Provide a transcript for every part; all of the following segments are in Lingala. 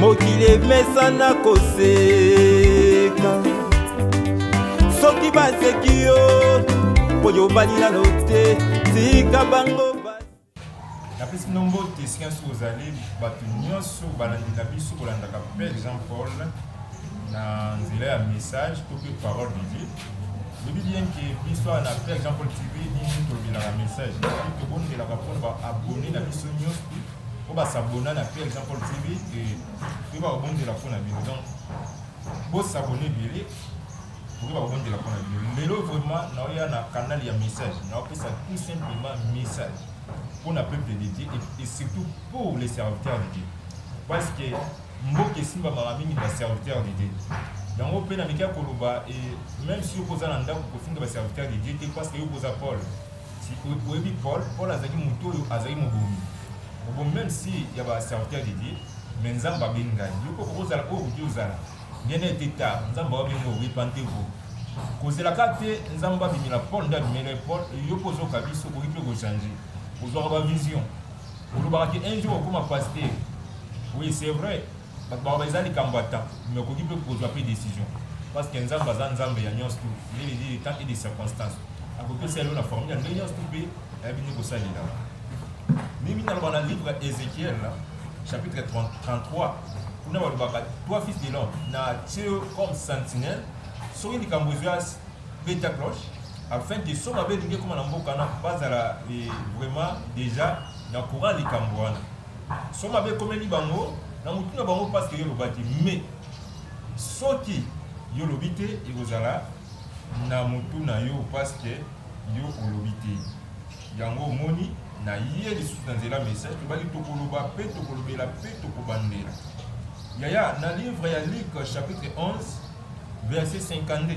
mokili emesana koseka soki baseki yo mpo yobali nano te tika bango napesi bino mbote esika nyonso ozali bato nyonso balandi na biso kolandaka père jean paul na nzela ya message to mpe parole de dieu lobi bien ke biso awa na père jean paul tv nini tolobelaka message soki tobondelaka mpona baabone na biso nyonso mpo basabona na père jean paul tv e toyeba kobondela mpo na bino donc bosabone ebele tokoki bakobondela mpo na bino lelo vraiment naoya na canal ya message naopesa tout simplement message mpo na peuple de dieu et surtout pour les serviteurs de dieu parce que Mboka esimbamaka mingi na ba serviteurs de Dieu. Yango mpe nameki ya koloba e, meme si yoko oza na ndako kofinga ba serviteurs de Dieu te parce que yoko oza Paul. Si oyebi Paul, Paul azalaki moto oyo azalaki mobomi. Mobomi meme si ya ba serviteurs de Dieu, mais Nzambe abengi ngai. Yoko okozala oyo okoki ozala. Bien n'ayez été tard, Nzambe abengi oyo, repentez-vous. Kozela ka te Nzambe abimela Paul nde abimela Paul, yoko ozoka biso okoki mpe kochanger. Ozwaka ba vision. olobaka ke un jour okoma pasteur oui c'est vrai bato baloba eza likambo ya temps mais okoki mpe kozwa mpe décision parce que nzambe aza nzambe ya nyonso tu il est de temps et de circonstance akopesa yango na formule ya ndenge nyonso tu mpe ayebi nde kosalela mimi naloba na livre ya ézéchiel chapitre 33 kuna balobaka toi fils de l'homme na tio comme sentinelle soki likambo ezwa beta cloche Afin que son mabe elingi ekoma na mboka wana bazala eh, vraiment deja na courant likambo wana. Son mabe ekomeli bango na mutu na bango parce que yo lobaki mais soki yo lobi te ekozala na mutu na yo parce que yo olobi te. Yango omoni na ye lisusu na nzela message tobaki tokoloba mpe tokolobela mpe tokobandela yaya na livre ya luke chapitre 11 verset 52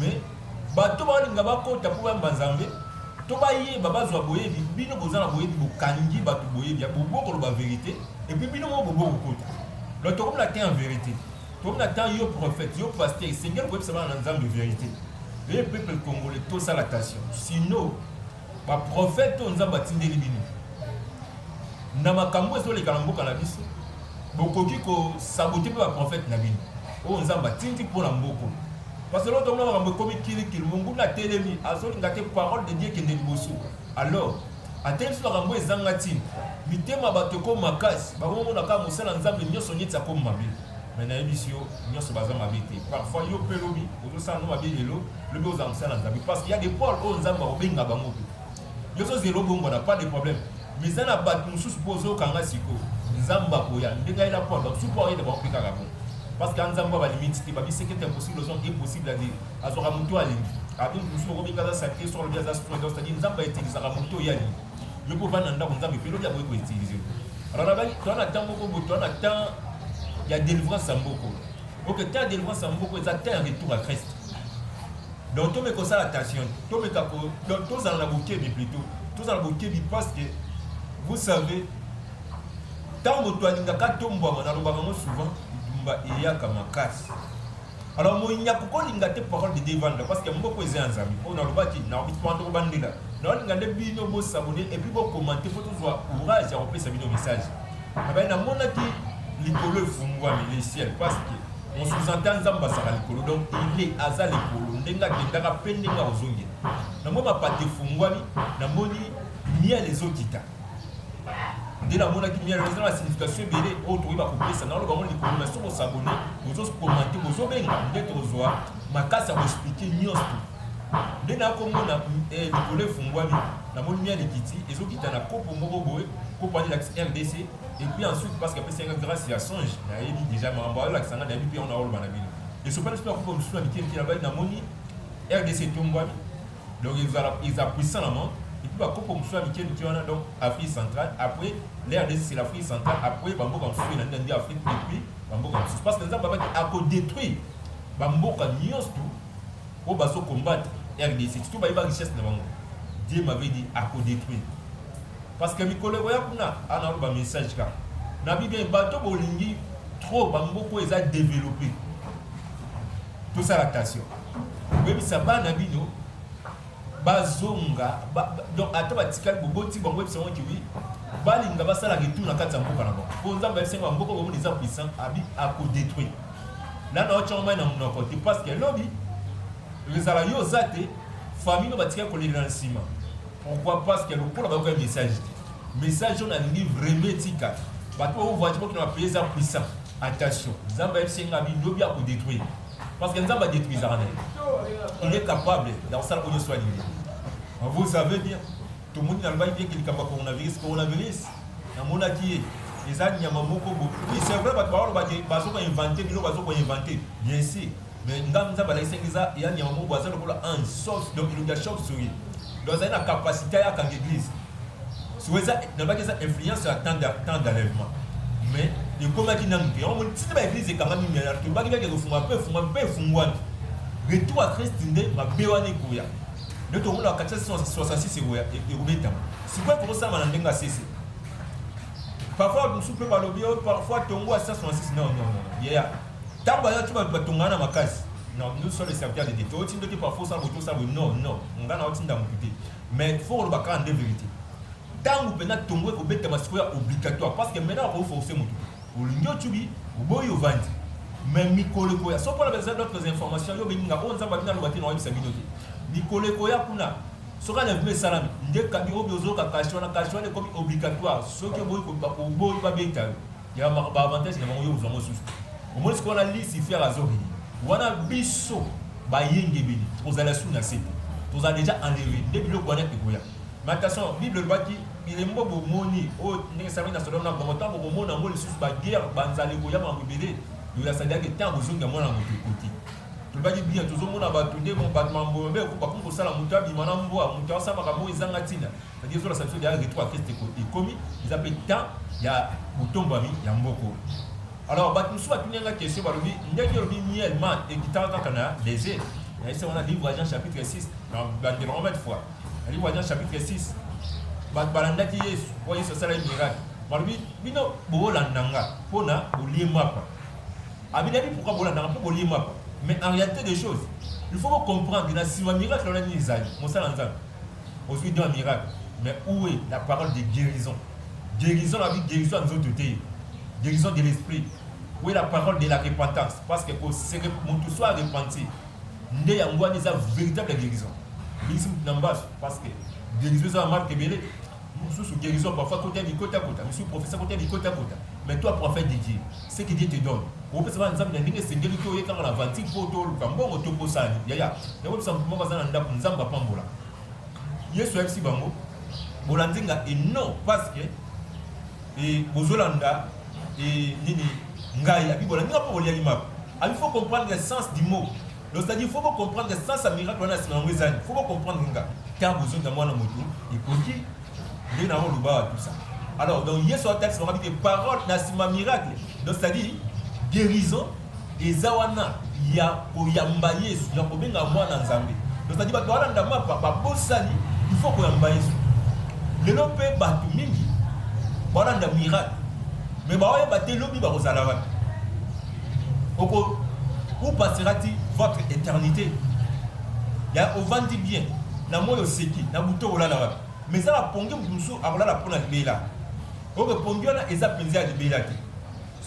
Mais bato balinga bakota mpo bayamba Nzambe to bayeba bazwa boyebi. Bino boza na boyebi, bokangi bato boyebi, bobo koloba verite epuis bino moko bobo kokota. Donc tokomi na temps ya verite, tokomi na temps yo prophète, yo pasteur esengeli koyebisa bana na Nzambe verite. Ee peuple congolais tosala attention, sinon Ba prophète oyo Nzambe atindeli bino na makambo ezoleka na mboka na biso, bokoki kosabote mpe ba prophète na bino oyo Nzambe atindi mpo na mboko. Parce que l'autre mona makambo ekomi kilikili, monguna atelemi, azolinga te parole de Dieu ekende liboso. Alors, atelemi biso makambo ezanga ntina. Mitema bato ekoma makasi, bakomona kaka mosala Nzambe nyonso neti akomi mabe. Mais nayebisi yo nionso baza mabe te parfois yo pe lobi ozosala ngo mabe lelo lobi ozala mosala na nzambe parce que ya de paul oyo nzambe akobenga bango te yo ozozela obongwana pas de problème mais eza na bato mosusu mpo ozokanga sikoyo nzambe akoya ndenge ayela paul bamosusu mpo ayela bango mpe kaka bongo parce que nzambe ya balimiti te babiseki ete impossible ozwa impossible ade azwaka moto alingi alingi mosusu okomi kaza salite soko alobi aza sport c'est-à-dire nzambe aetilisaka moto oyo alingi yo mpe ovanda na ndako nzambe mpe lobi akoki koutilize yo alors nabaki toa na temps moko boye toa na temps ya délivrance ya mboko ok temps ya délivrance ya mboko eza temps ya retour ya christ donc tomeka kosala attention tomeka tozala na bokebi plutôt tozala na bokebi parce que vous savez ntango moto alingaka tombwama nalobaka yango souvent bitumba eyaka makasi Alors moyinya kokolinga te parole de Devanda parce que mboko eza ya Nzambe mpo nalobaki na bispando kobandela naolinga nde bino bosabone et puis bokomante mpo tozwa courage ya kopesa bino message abai namonaki likolo efungwami le ciel parce que on sous-entend nzambe azalaka likolo donc ile aza likolo ndenge akendaka mpe ndenge akozongela namoni mapata efungwami namoni miel ezokita nde namonaki mia eza na signification ebele oyo tokoki bakopesa na oloba ngo likolo na soko sabone bozokomante bozobenga nde tokozwa makasi ya koexplike nyonso nde nakomona eh, likolo efungwami namoni mia likiti ezokita na kopo moko boye kopo wana elakisi rdc epuis ensuite parce que apesi yanga grâce ya songe nayebi déjà makambo ayolakisa nga nayebi mpe yango naoloba na bino esopani mpe bakopo mosusu ya mike mike nabali namoni rdc etombwami Donc ezala ezala puissant na monde et puis ba koko mosusu ya mike mike wana donc Afrique centrale après la RDC c'est l'Afrique centrale après ba mboka mosusu na ndia Afrique et puis ba mboka mosusu parce que nzambe abaki ako détruire ba mboka nyonso tout oyo bazo combattre RDC surtout bayeba richesse na bango Dieu m'avait dit ako détruire parce que mikolo ekoya kuna ana ba message kaka na bibi bato bolingi trop ba mboka eza développer tout ça la tension Boyebisa bana bino bazonga ba, donc ata batikali boboti bango yebisa yango kiwi balinga basala retour na kati ya mboka na bango mpo nzambe ayebisa yango mboka bomoni eza puissant abi akodétruire nana otyanga mai na monoko te parce que lobi ezala yo oza te famille no batikali kolelela na nsima pourquoi parce que lokola bayoka message te message oyo nalingi vraiment etika bato oyo voiture bokina bapaye eza puissant attention nzambe ayebisi nga bi lobi akodétruire Parce que Nzambe adetruisaka na ye. Il est capable ya kosala oyo nyonso alingi. Vous savez bien, tomoni nalobaki bien ke likambo ya coronavirus, coronavirus namonaki ye eza nyama moko bo. Oui, c'est vrai bato baoloba ke bazo ko inventer biloko bazo ko inventer. Bien sûr. Mais ngambi Nzambe alakisaki eza ya nyama moko bo aza lokola ange, sauf donc elongi ya chauve-souris. Donc azali na capacité ayaka na eglise. sikoyo eza nalobaki eza influence ya temps d'enlèvement mais ekomaki nanu te yango moni tina ba eglise ekangami miana tolobaki beke ezofunga mpe efungami mpe efungwani retour ya christ nde mabe wana ekoya nde tokomona kati ya 66 ekoya ekobetama sikoyo tokosama na ndenge ya sese parfois mosusu mpe balobi oh, parfois tongo ya 166 non non non yeya ntango bayaki bato batongana na makasi non nous sommes les serviteurs de dieu totindoki parfois osala boye tosala boye non non ngai naotinda motu te Mais il faut koloba kaka nde verite. Tangu pena tongo ekobetama sikoyo ya obligatoire parce que maintenant oko forcer mutu te. Olingi ocubi, oboyi ovandi. Mais mikolo ekoya soki wana baza d'autres informations yo bengi nga oyo nzambe abina loba te na oyebisa bino te. Mikolo ekoya kuna soki alevema esalami nde kabi obi ozoyoka kashi wana kashi wana ekomi obligatoire soki oboyi koboyi babeta yo. ya ba avantage na bango yo ozwa ngo susu omoni sikoyo wana lucifer azori wana biso bayengebeli tokozala su na se tozala deja enlevé nde biloko wana ekoya mais attention bible elobaki bilembo bomoni oyo ndenge esalami na sodome na gomore ntango bokomona yango lisusu baguerre banzala ekoya makambo ebele lola asalelaki ntango ozongi ya mwana moto ekoti tolobaki bia tozomona bato nde bato mambo mabe bakomi kosala moto abima na mbwa moto asala makambo ezanga ntina c'est-à-dire ezola sanction ya retour à keste ekomi eza mpe temps ya botombwami ya mboko alors bato mosusu batuni yanga question balobi ndenge olobi miel man ekitaka kaka na dese naise wana livre agent chapitre 6 na bandelo yango mete fois na livre agent chapitre 6 bato balandaki yesu mpo yesu asalaki miracle balobi bino boolanda nga mpo na bolie mapa abinabi pourkui bolanda nga mpo bolie mapa mais en réalité des choses il faut bocomprendre na nsima miracle wana nini ezali mosala nzambe ozwi don ya miracle mais où est la parole de guérison guérison na guérison ya nzoto te guérison de l'esprit où est la parole de la repentance parce que koseke motu soit repenti nde yango wana eza véritable guérison bisi motu na mbasu parce que guérison eza na marque ebele mususu guérison parfois kota di kota kota mususu professeur kota di kota kota mais toi prophète de Dieu ce que Dieu te donne opesa ba nzambe na ndenge esengeli to yekanga na aventure po to luka mbongo to kosani yaya na opesa mutu moko aza na ndako nzambe apambola Yesu ayebisi bango bolandi nga et non parce que et bozolanda et nini ngai abi bolandi nga po boliaki mako abi faut comprendre le sens du mot Donc c'est-à-dire faut vous comprendre que sans sa miracle on a sima yango ezali. Faut vous comprendre nga. Car vous êtes mwana mutu ekoki nde na oloba tout ça. Alors donc Yesu atakisi bango que parole na sima miracle. Donc c'est-à-dire guérison eza wana ya koyamba Yesu, ya kobenga mwana Nzambe. Donc c'est-à-dire bato wana ndama papa bosani il faut koyamba Yesu. Lelo mpe bato mingi balanda miracle mais baoyeba te lobi bakozala wapi oko où passera-t-il votre éternité ya ovandi bien na moi oseki na butu okolala wapi mais eza bapongi moto mosusu akolala mpo na libela oyo epongi wana eza mpenza ya libela te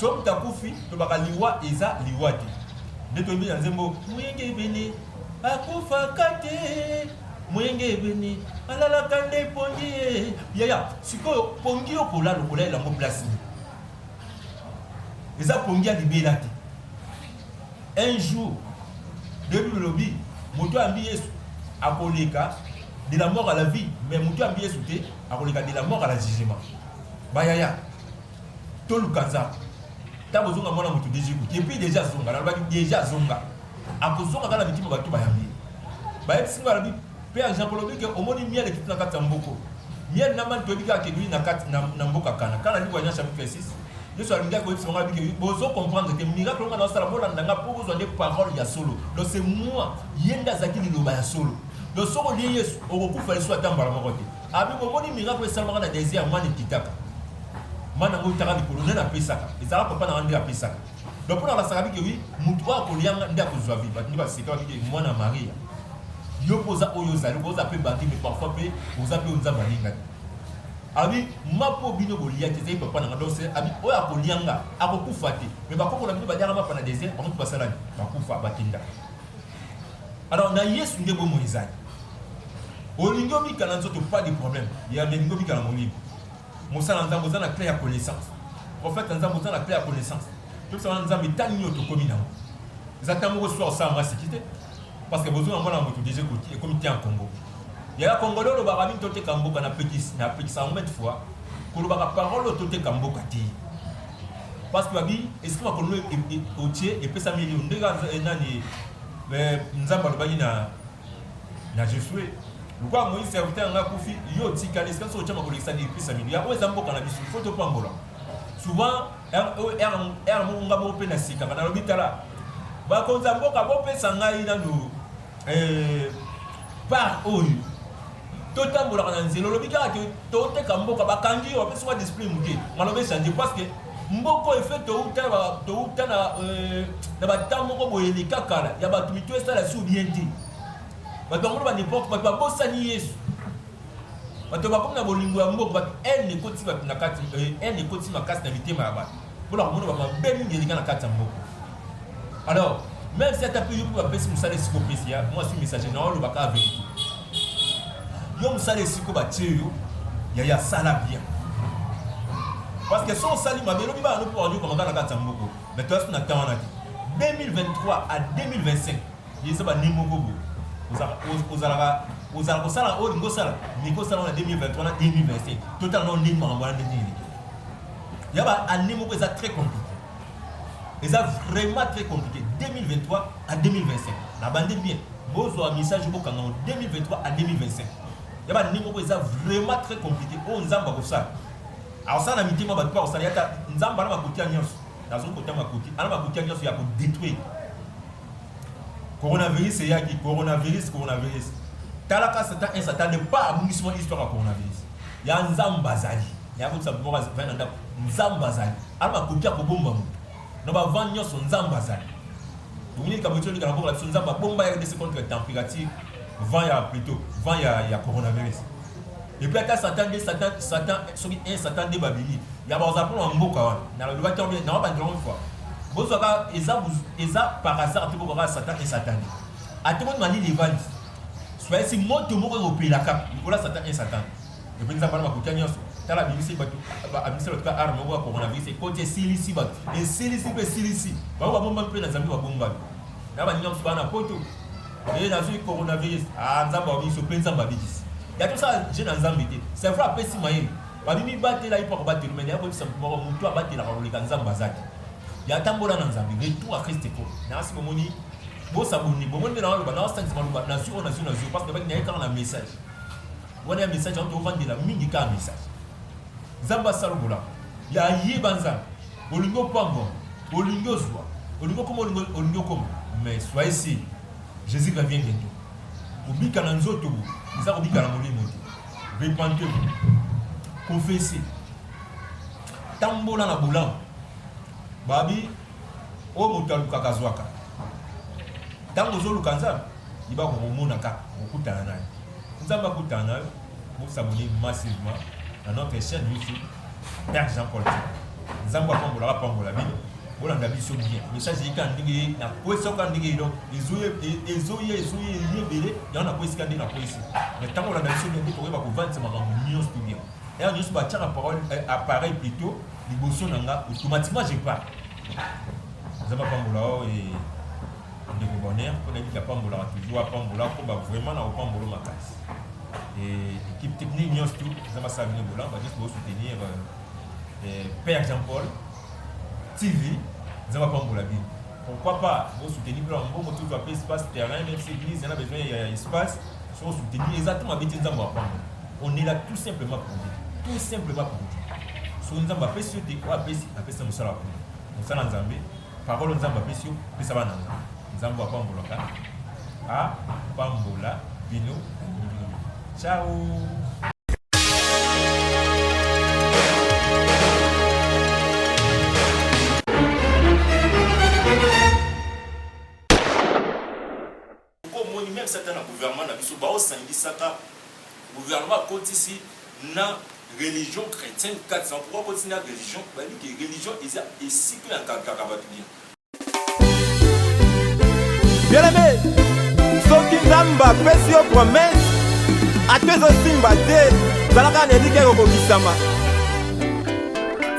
so moto akufi tobaka liwa eza liwa te nde toyebi na nzembo moyenge ebene akufaka te moyenge ebene alalaka nde pongi ye yaya sikoyo pongi yo kolala okolalela yango place eza pongi ya libela te un jour debi lobi moto yambi yesu akoleka de la mort à la vie mais moto yambi yesu te akoleka de la mort à la jugement bayaya toluka nzambe ntango ozonga mwana moto deja ekuti epuis deja azonga nalobaki deja azonga akozonga kaka na mitima bato bayambi bayebisi ngai alobi Pe ange yango olobi ke omoni miel ekiti na kati ya mbuku. Miel na mani toyebi kaka ke ebiyi na kati na, na mboka Kana. Kana liwa nya chapitre 6. Yesu alingi akoyebisa bango abi ke bozo comprendre te miracle nga na sala bolanda nga po bozwa nde parole ya solo. Donc c'est moi, ye nde azalaki liloba ya solo. Donc soki olie Yesu okokufa lisusu ata mbala moko te. Abi bomoni miracle esalamaka na desert mani ekitaka. Mani yango eutaka likolo nani apesaka? Ezalaka papa na nga nde apesaka. donc mpona basakabi ke wi motu oyo akolianga nde akozwa vie bato nde basekaki ke mwana maria yo mpe oza oyo ozali oza mpe bandi me parfois mpe oza mpe oyo nzambe alingaki abi ma mpo bino boliaki ezali papa nanga donc abi oyo akolianga akokufa te me bakoko na bino baliaka mapa na desert bango mpe basalani bakufa bakenda alors na yesu nde bomoi ezali olingi obika na nzoto pas de problème ya melingi obika na molimo Mosala na Nzambe oza na clé ya connaissance. Prophète na Nzambe oza na clé ya connaissance. Tout ça Nzambe tani yo tokomi na ngo. Eza tango ko soir ça masi kite. Parce que bozo na mwana moto déjà koti et comme tiens Congo. Ya Congo lolo ba rabi tote kamboka na petit na petit ça mille fois. Kolobaka parole tote kamboka ti. Parce que babi est-ce que ma kono otie et pesa million ndega nani eh, Nzambe alobaki na na Josue lokola Moïse serviteur na ngai akufi, yo otikali esika soki otyama kolekisa nini krista midi yango eza mboka na biso fo topambola souvent r moko nga moko mpe na sika bana lobi tala bakonzi ya mboka bopesa ngai nano eh, part oyo totambolaka na nzela olobi kaka te toteka mboka bakangi yo bapesi wa discipline moke maloba echange parce que Mboka oyo efe touta na touta na euh, na bata moko boye eleka kala ya bato mitu esala si bien te bato bango ba n'importe bato babosani yesu bato bakomi na bolingo ya mboka bato ene ekoti bato na kati ene euh, ekoti makasi na mitema ya bato mpo na komona bamabe mingi eleka na kati ya mboka Alors, même si ata pe yo mpe bapesi mosala esiko opesi ya mwasi message na oloba kaka verité yo mosala esiko batie yo yaya sala bien parce que so osali mabe elobi bana no mpo wanyokama kaka na kati ya moko mais toyasi na temps wana te 2023 à 2025 eza bani moko boye ozalaka ozala kosala oyo olingi osala miki osala na 2023 na 2025 totala nao ndenge makambo wana ndenge eleki ya ba année moko eza très compliqué eza vraiment très compliqué 2023 à 2025 na bande bien bozwa message bokanga 2023 à 2025 ya ba ndenge moko eza vraiment très compliqué oyo oh, nzambe akosala akosala na mitema bato mpe akosala yata nzambe ana makotia nyonso nazongi kotia makoti ana makotia nyonso ya kodetruire coronavirus eyaki coronavirus coronavirus talaka satan un satan de pas abungisi mwa histoire ya coronavirus ya nzambe azali yakotisa moko azali na ndako nzambe azali Awa akoki akobomba moto na ba vent nionso nzambe azali bomoni likambo ti olingaka bongo na biso nzambe abomba ya rdc contre temperature vent ya plutot vent ya, ya coronavirus epuis ata satan nde satan satan soki e satan nde babimi ya bakozala mpo na mboka wana nalobaki yango bien nawa bandela moko fois bozwaka eza eza par hasard te bokaka satan e satan nde ata moni malili evandi soyesi moto moko ekopela kaka likola satan e satan epe nzambe wana bakutia nyonso tala abimisi bato abimisi bato ka arme moko ya coronavirus ekoti esilisi bato esilisi mpe esilisi bango babombami mpe na nzambe babombami na baninga mosusu bana poto eye nazwi coronavirus a ah, nzambe abimisi mpe nzambe abikisi ya tosala je na nzambe te c'est vrai apesi mayele babimi batela ye mpo akobatela mene akoyebisa moto moko motu abatelaka koleka nzambe aza te ya tambola na nzambe retour a kriste ko nasi bomoni bosaboni bomoni nde na baloba na basangisa maloba nazwi oyo nazwi nazwi parce que baki naye kaka na message Wana ya message yango tovandela mingi kaka message. Nzambe asala bolamu. Ya yeba Nzambe. Olingi opambwa, olingi ozwa, olingi okoma, olingi okoma. Mais soyez sûr, Jésus revient bientôt. Kobika na nzoto bo, eza kobika na molimo te. Repentez-vous. Confessez. Tambola na bolamu. Babi Oyo moto alukaka azwaka. Ntango ozoluka Nzambe, yeba kokomona kaka, kokutana na ye. Nzambe akutana na yo, bosabone massivement na notre chaîne YouTube Père Jean-Paul Tika. Nzambe apambolaka apambola bino. bolanda biso bien message eyika ndenge ye nakwesi oka ndenge ye donc ezoya ezoya ezoya eye ebele yango nakwesika ndenge nakwesi mais ntango olanda biso bien nde tokoyeba kovandisa makambo nyonso to bien Heure nionso ba tiaka parole eh, appareil plutôt liboso na nga automatiquement je pars. Nzambe apambola yo et ndeko bonheur mpo nayebi ke apambolaka toujours apambola akoba vraiment na kopambolo makasi et équipe technique nyonso tu eza basala bino bola ba nyonso bosoutenir euh, père jean paul tv eza bapambola bino pourquoi pas bosoutenir mpe na mbongo tozwa mpe espace terrain même si église eza na besoin ya espace so osoutenir eza te mabe te nzambe apambola On est là tout simplement pour dire. Tout simplement pour dire. Soki Nzambe apesi yo te, oyo apesi, apesa mosala kuna. Mosala Nzambe, parole Nzambe apesi yo, pesa bana Nzambe. Nzambe apambolaka. Apambola bino. Ciao. Pourquoi omoni meme ça na gouvernement na biso bao sangisaka gouvernement akotisi na religion chrétienne 400 pourquoi akotisi na religion bayebi ke religion eza esika ya nkakaka bato bien bieleme soki nzambe apesi yo promese ata ezosimba te zalaka na eliki ekokokisama